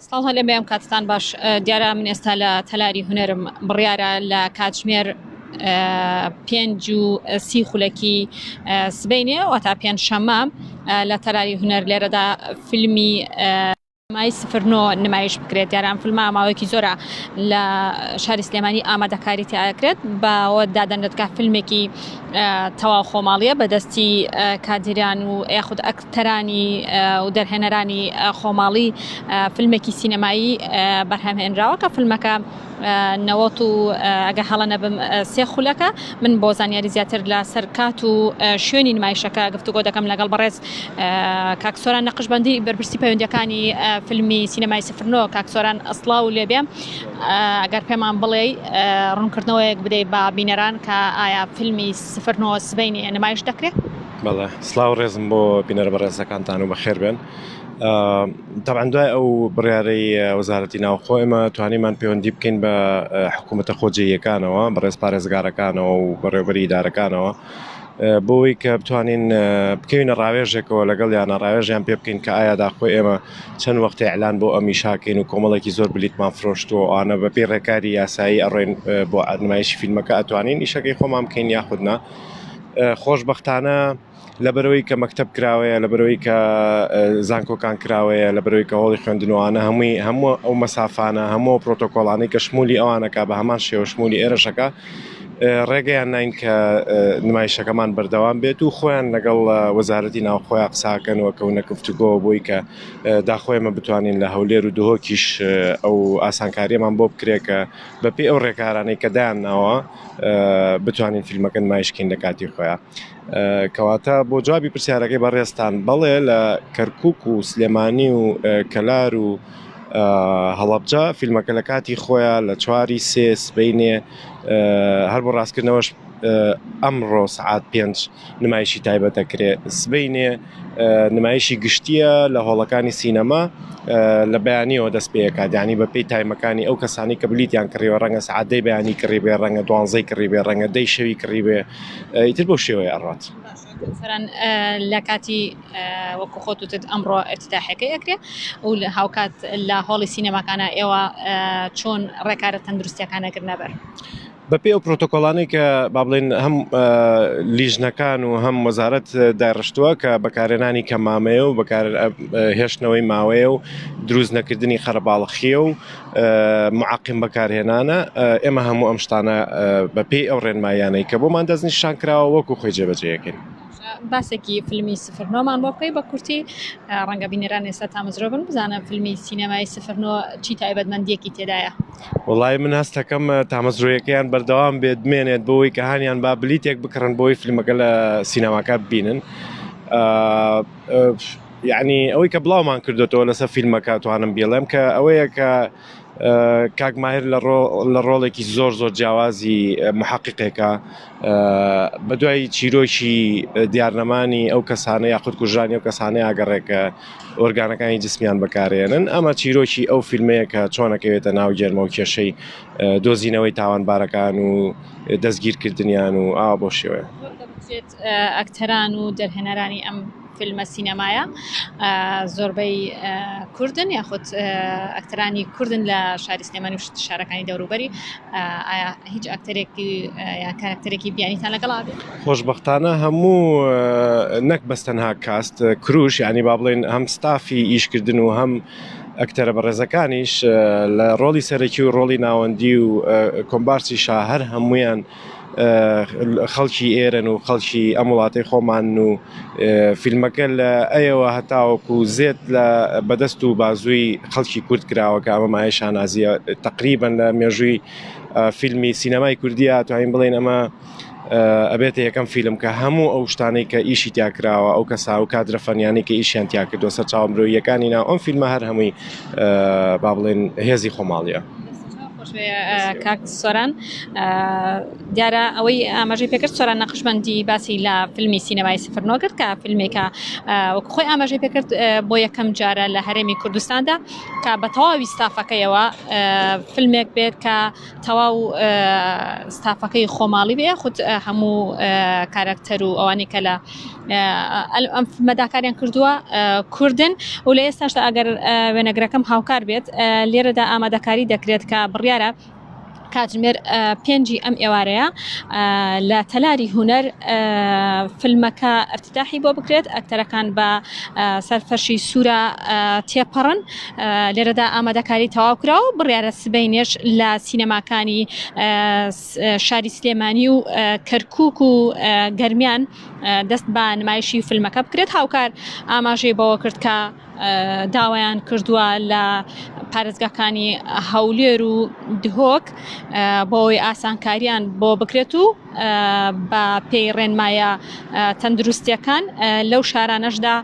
سڵاو هەلێ بەم کاتتان باش دیارە من ئێستا لە تەلاری هوەرم بڕیارە لە کاتژمێر پێنج و سی خولەکی سبینێ و تا پێنج شەمە لە تەلاری هوەر لێرەدا فیلمی مای سفرنۆ نمایش بکرێت دیاران فلما ماوەیەکی زۆرە لە شاری سلێمانی ئامادەکاری تیاکرێت باوە دادەن دەتکا فیلمێکی تەواو خۆماڵیە بەدەستی کادیران و یاخود ئەک تەرانی و دەرهێنەرانی خۆماڵی فلمێکی سینەمایی بەرهەم هێنراوە کە فلمەکە نەوەت و ئەگە هەڵە نەبم سێ خولەکە من بۆ زانیاری زیاتر لە سەرکات و شوێنی نمایشەکە گفتوگۆ دەکەم لەگەڵ بەڕێز کاکسۆران نەقشبندی بەرپرسی پەیوەندەکانی فیلمی سینەمای سفرنۆ کاکسۆران ئەسڵا و لێبێ ئەگەر پێمان بڵێ ڕوونکردنەوەیەک بدەیت بە بینەران کە ئایا فیلمی سفرنۆ سبینی نمایش دەکرێت؟ بەڵێ سلااو ڕێزم بۆ بینەر بە ڕێزەکانتان و بەخێر بێن تاعاان دوای ئەو بڕارەی وەزارەتی ناوخۆ ئێمە توانیمان پەیوەندی بکەین بە حکوومەتە خۆجێیەکانەوە بەڕێز پارێزگارەکانەوە و بەڕێوبەری دارەکانەوە بۆی کە بتوانین بکەینە ڕاوێژێکەوە لەگەڵ یانە ڕاوێژیان پێ بکەین کە ئایا داخۆ ئێمە چەند وەختی ئەلان بۆ ئەمی شاکەین و کۆمەڵێکی زۆر بلیتمان فرۆشتووە ئەوانە بەپی ڕێکاری یاسایی ئەڕێن بۆ ئەنمایش فیلمەکە ئەتوانین ئیشەکەی خۆمان بکەین یاخودنا خۆشبەختانە لەبەرەوەی کە مەکتەب کراوەیە لەبەرەوەی کە زانکۆکان کراوەیە لەبەرەوەی کە هۆڵی خوێندنوانە هەمووی هەموو ئەو مەسافانە هەموو پرۆتۆکۆڵانەی کە شمولی ئەوانەکە بە هەمان شێوە شمولی ئێرەشەکە ڕێگەیان نین کە نمایشەکەمان بەردەوام بێت و خۆیان لەگەڵ وەزارەتی ناوخۆیان قساکەنەوە کە ونە گفتوگۆ بۆی کە داخۆێمە بتوانین لە هەولێر و دهۆکیش ئەو ئاسانکاریەمان بۆ بکرێت کە بەپی ئەو ڕێکارانەی کە دایان ناوە بتوانین فیلمەکە نمایش کەین لە کاتی خۆیان کەواتە بۆ جوابی پرسیارەکەی بەڕێزتان بەڵێ لە کەرکک و سلێمانی و کەلار و هەڵەبجە فیلمەکە لە کاتی خۆیان لە چواری سێ سبینێ هەر بۆ ڕاستکردنەوەش ئەمڕۆ سعات پێنج نمایشی تایبەتە کرێ سبینێ نمایشی گشتییە لە هۆڵەکانی سینەما لە بەیانیەوە دەست پێکات یعنی بە پێی تایمەکانی ئەو کەسانی کە بلیتیان کڕیوە ڕەنگە سعادەی بەیانی کڕی بێ ڕەنگە دوانزەی کڕی بێ ڕەنگە دەی شەوی کڕی بێ ئیتر بۆ شێوەیە ئەڕات لە کاتی وەکو خۆتوتت ئەمڕۆ ئەتتاحەکەی ئەکرێ و لە هاوکات لە هۆڵی سینەماکانە ئێوە چۆن ڕێکارە تەندروستەکانەگر نەبەر. بەپێی ئەو پرۆتۆکۆڵانەی کە با بڵێن هەم لیژنەکان و هەم وەزارەت داڕشتووە کە بەکارێنانی کە مامەیە و بەکار هێشتنەوەی ماوەیە و دروست نەکردنی قەرەباڵخیە و معقیم بەکارهێنانە ئێمە هەموو ئەم شتانە بەپێی ئەو ڕێنمایانەی کە بۆمان دەستنیشان کراوە وەکو خۆی جێبەجەکەین. باسێکی فیلمی سفرنۆمان بۆ بکەی بە کورتی ڕەنگە بینەران ئێستا تامەزرۆ بن بزانە فیلمی سینەمای سفرنۆ چی تایبەتمەندیەکی تێدایە وەڵای من هەستەکەم تامەزرۆیەکەیان بەردەوام بێت بمێنێت بۆی کە هانیان با بلیتێک بکڕن بۆی فیلمەکە لە سینەماکە ببینن یعنی ئەوەی کە بڵاومان کردوێتەوە لەسەر فیلمەکە توانم بیڵێم کە ئەوەیە کە کاک ماهر لە ڕۆ لە ڕۆڵێکی زۆر زۆر جیاوازی محققێکە بە دوای چیرۆکی دیارنەمانی ئەو کەسانە یاخود کوژرانی و کەسانەی ئاگەڕێکە ئۆرگانەکانی جسمیان بەکارێنن ئەمە چیرۆکی ئەو فیلمەیە کە چۆنەکەوێتە ناو گێرمە و کێشەی دۆزینەوەی تاوانبارەکان و دەستگیرکردنیان و ئا بۆ شێوەیە ئەکتەران و دەرهێنەرانی ئەم فیلمە سینەمایە زۆربەی کوردن یاخود ئەکتەرانی کوردن لە شاری سلێمانی و شارەکانی دەوروبەری ئایا هیچ ئەکتەرێکی یا کارکتەرێکی بیانیتان لەگەڵا خۆشبەختانە هەموو نەک بەس تەنها کاست کروش یعنی با بڵێن هەم ستافی ئیشکردن و هەم ئەکتەرە بەڕێزەکانیش لە ڕۆڵی سەرەکی و ڕۆڵی ناوەندی و کۆمبارسی شا هەر هەمویان خەڵکی ئێرەن و خەڵکی ئەم وڵاتی خۆمان و فیلمەکە لە ئەیەوە هەتاوەکو زێت لە بەدەست و بازووی خەڵکی کورد کراوەکە ئەمە مایە شانازیە تقریبن لە مێژووی فیلمی سینەمای کوردیا توانین بڵین ئەمە ئەبێتە یەکەم فیلم کە هەموو ئەو شتانەی کە ئیشی تیا کراوە ئەو کەسا و کادرە فەنیانی کە ئیشیان تیا کردوە سەر چاوە مرۆییەکانی ناو ئەم فیلمە هەر هەمووی با بڵێن هێزی خۆماڵیە. کاک سۆران دیارە ئەوەی ئاماژەی پێکرد سۆران نەقشبندی باسی لە فیلمی سینەمای سفر نۆ کرد کە فیلمێکە وەک خۆی ئاماژەی پێکرد بۆ یەکەم جارە لە هەرێمی کوردستاندا کە بە تەواوی ستافەکەیەوە فیلمێک بێت کە تەواو ستافەکەی خۆماڵی بێ یاخود هەموو کارەکتەر و ئەوانی کە لە ئەم مەداکاریان کردووە کوردن و لە ئێستاشدا ئەگەر وێنەگرەکەم هاوکار بێت لێرەدا ئامادەکاری دەکرێت کە بڕیارە کاتژمێر پێنجی ئەم ئێوارەیە لە تەلاری هوەر فیلمەکە ئەفتتاحی بۆ بکرێت ئەکتەرەکان بە سەر فەرشی سوورە تێپەڕن. لێرەدا ئامادەکاری تەواوکرا و بڕیارە سبەینێش لە سینەماکانی شاری سلێمانی و کەرکک و گەرمیان دەست بە نمایشی فیلمەکە بکرێت هاوکار ئاماژەی بەوە کرد کە داوایان کردووە لە پارێزگاکانی هەولێر و دهۆک بۆی ئاسانکاریان بۆ بکرێت و بە پێی ڕێنمایە تەندروستیەکان لەو شارانەشدا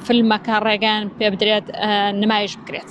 فلمەکە ڕێگەیان پێ بدرێت نمایش بکرێت.